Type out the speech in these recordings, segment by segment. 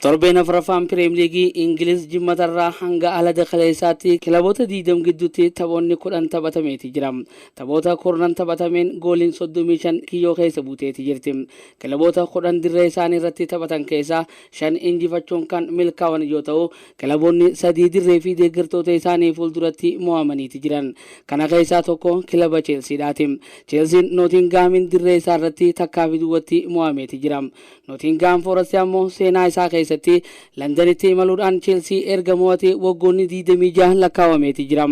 Torbeen 4ffaan Pireem Liigii Ingiliz Jimmatarraa hanga alada kaleessaatti kilaboota 20 gidduutti taphoonni 10 taphatameeti jira. Taphoota kurnan taphatameen gooliin 35 kiyyoo keessa buuteeti jirti. Kilaboota 10 dirree isaanii irratti taphatan keessaa 5 injifachuun kan milkaawan yoo ta'u, kilaboonni 3 dirree fi deeggartoota isaanii fuulduratti mo'amaniiti jiran. Kana keessaa tokko kilaba Cheelsiidhaati. Cheelsiin Nootingahaamiin dirree isaa irratti takkaa fi duwwatti mo'ameeti jira. Notingaam Foorast ammoo seenaa isaa keessatti Landanitti imaluudhaan Cheelsii erga mo'atee waggoonni 26 lakkaawameeti jira.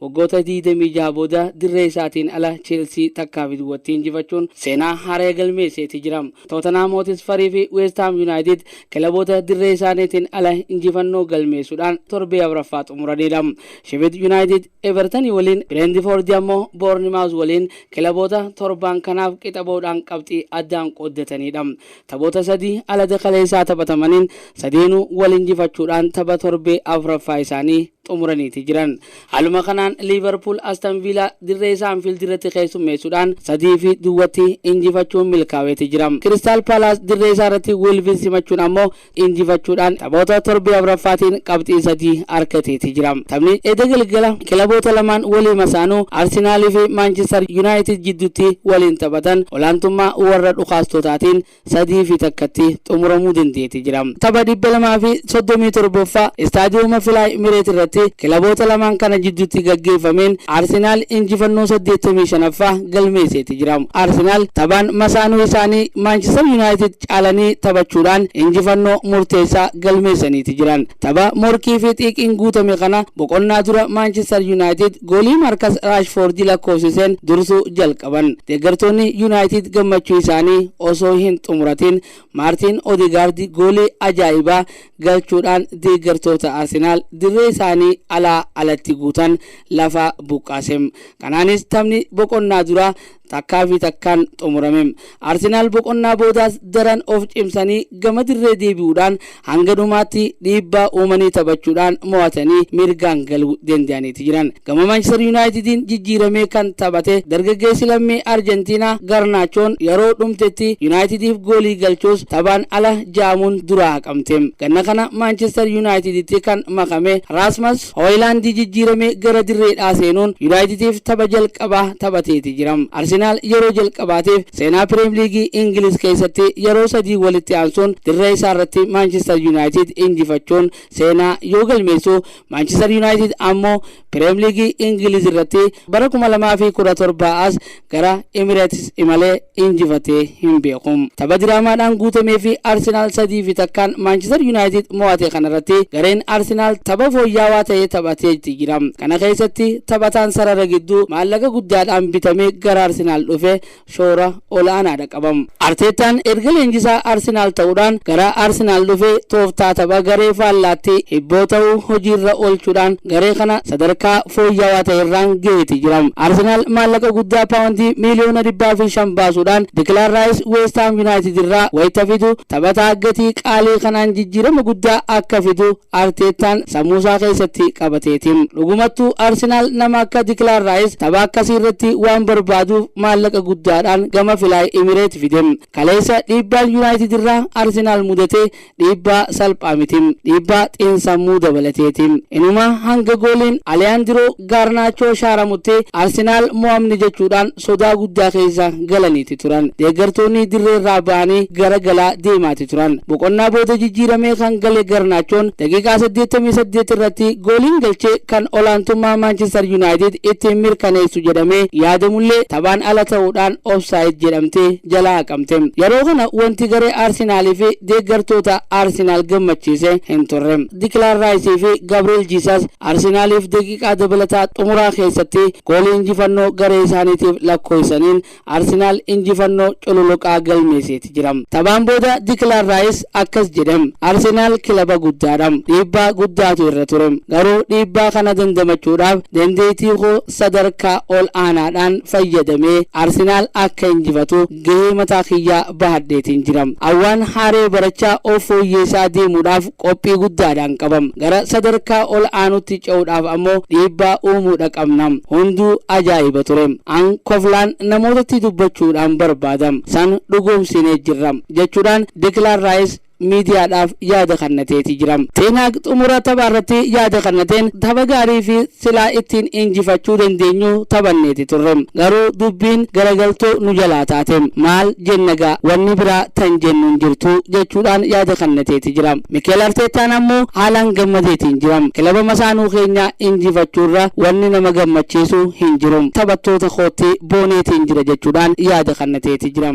Waggoota 26 booda dirree isaatiin ala Cheelsii takkaafi duwwatti injifachuun seenaa haaraya galmeesseeti jira. Tootanhaam Hootisparii fi Weesthaam Yunaayitid kilaboota dirree isaaniitiin ala injifannoo galmeessuudhaan torbee 4ffaa xumuraniidha. Shefid Yunaayitid. Eevartan waliin, Bireentifoordi ammoo Boornimaawuz waliin kilaboota torbaan kanaaf qixa ba'uudhaan qabxii addaan qooddataniidha. Taphoota sadii alada kaleessaa taphatamaniin sadeenuu wal injifachuudhaan tapha torbee afraffaa isaanii xumuraniiti jiran. Haaluma kanaan Liivarpuul Aston Viilaa dirree isaa Anfiildi irratti keessummeessuudhaan sadii fi duwwatti injifachuun milkaaweeti jira. Kiristaal Paalaas dirree isaa irratti Woolviin simachuun ammoo injifachuudhaan taphoota torbee afraffaatiin qabxii sadii argateeti jira. Taphni edda galgala kilaboota lamaan walii masaanuu Arsenaalii fi Maanchistar Yunaayitid jidduutti waliin taphatan olaantummaa warra dhukaastotaatiin sadii fi takkatti xumuramuu dandeeti jira. Tapha 237ffaa Istaadiyooma Filaay Mireet irratti kilaboota lamaan kana jidduutti gaggeeffameen Arsenaal injifannoo 85ffaa galmeesseeti jira. Arsenaal taphaan masaanuu isaanii Maanchistar Yunaayitid caalanii taphachuudhaan injifannoo murteessaa galmeessaniiti jiran. Tapha morkiifi xiiqiin guutame kana boqonnaa dura Maanchistar Yunaayitid goolii Maarkas Raashfoordi lakkoofsiseen dursuu jalqaban. Deeggartoonni Yunaayitid gammachuu isaanii osoo hin xumuratiin Maartiin Odegaardi goolii ajaa'ibaa galchuudhaan deeggartoota Arsenaal dirree isaanii alaa alatti guutan lafaa buqqaasem. Kanaanis taphni boqonnaa duraa takkaa fi takkaan xumurame. Arsenaal boqonnaa boodaas daran of cimsanii gama dirree deebi'uudhaan hanga dhumaatti dhiibbaa uumanii taphachuudhaan mo'atanii mirgaan galuu danda'aniiti jiran. Gama Maanchister Yuunaayitidiin jijjiiramee kan taphate dargaggeessi lammii Arjentiinaa Garnaachoon yaroo dhumtetti Yuunaayitidiif goolii galchus taphaan ala ja'amuun duraa haqamte. Ganna kana Maanchister Yuunaayitiditti kan makame Raasmas Hoyilaandi jijjiiramee gara dirreedhaa seenuun Yunaayitidiif tapha jalqabaa taphateeti jira. Arsenaal yeroo jalqabaatiif seenaa Pireem Liigii Ingiliz keessatti yeroo sadii walitti aansuun dirree isaarratti Maanchistar Yunaayitid injifachuun seenaa yoo galmeessu, Maanchistar Yunaayitid ammoo Pireem Liigii Ingiliz irratti bara 2017 as gara Emirates imalee injifatee hin beeku. Tapha diraamaadhaan guutameefi Arsenaal sadii fi takkaan Maanchister Yunaayitid mo'ate kanarratti gareen Arsenaal tapha fooyyaawaa ta'e taphateeti jira. Kana keessatti taphataan sarara gidduu maallaqa guddaadhaan bitamee gara Arsenaal dhufe shoora ol'aanaadha. qabam. Arteettaan erga leenjisaa Arsenaal ta'uudhaan gara Arsenaal dhufe tooftaa tapha garee faallaatti hibboo ta'u hojiirra oolchuudhaan garee kana sadarkaa fooyyawaa ta'erraan gaheeti jira. Arsenaal maallaqa guddaa paawondii miiliyoona dhibbaa fi shan baasuudhaan Dikilaan Raayis Weest Haam Yunaayitid irraa wayita fidu taphataa gatii qaalii kanaan jijjiirama guddaa akka fidu Arteettaan sammuusaa keessatti qabateeti. Dhugumattuu Arsenaal nama akka Dikilaan Raayis tapha akkasiirratti waan barbaaduuf maallaqa guddaadhaan gama Filaay Imireet fide. Kaleessa dhiibbaan Yunaayitidirraa Arsenaal mudate dhiibbaa salphaa miti. Dhiibbaa xiinsammuu dabalateeti. Inumaa hanga gooliin Aliyaandiroo Gaarnaachoo Shaaramutti Arsenaal mo'amne jechuudhaan sodaa guddaa keessa galaniiti turan. Deeggartoonni dirreerraa ba'anii gara galaa deemaati turan. Boqonnaa booda jijjiiramee kan gale Garnaachoon daqiiqaa saddeettamii saddeet irratti gooliin galchee kan olaantummaa Maanchistar Yunaayitid ittiin mirkaneessu jedhamee yaadamullee taphaan ala ta'uudhaan offside jedhamtee jalaa haqamte. Yeroo kana wanti garee Arsenaalii fi deeggartoota Arsenaal gammachiise hin turre. Dikilaan Raayisii fi Gabriel Jiisas Arsenaaliif daqiiqaa dabalataa xumuraa keessatti goolii injifannoo garee isaaniitiif lakkoofsisaniin Arsenaal injifannoo cululuqaa galmeesseeti jira. Taphaan booda Dikilaan Raayis akkas jedhe, Arsenaal kilaba guddaadha. Dhiibbaa guddaatu irra ture. Garuu dhiibbaa kana dandamachuudhaaf dandeettii koo sadarkaa ol aanaadhaan fayyadamee Arsenaal akka injifatu gahee mataa kiyyaa bahadheetiin jira. An waan haaree barachaa of fooyyeessaa deemuudhaaf qophii guddaadhaan qabam. Gara sadarkaa ol aanutti ce'uudhaaf ammoo dhiibbaa uumuudha qabna. Hunduu ajaa'iba ture. An koflaan namootatti dubbachuudhaan barbaadam. San dhugoomsinee jirra. Jechuudhaan Dekilaan Raayis miidiyaadhaaf yaada kannateeti jira. Teen Haag xumura taphaarratti yaada kannateen tapha gaarii fi silaa ittiin injifachuu dandeenyu taphanneeti turre. Garuu dubbiin garagaltoo nu jalaa taate. Maal jennagaa wanni biraa tan jennu hin jirtu jechuudhaan yaada kannateeti jira. Mikeel Arteettaan ammoo haalaan gammadeetiin jira. Kilaba masaanuu keenya injifachuurra wanni nama gammachiisu hin jiru. Taphattoota kootti booneetiin jira jechuudhaan yaada kannateeti jira.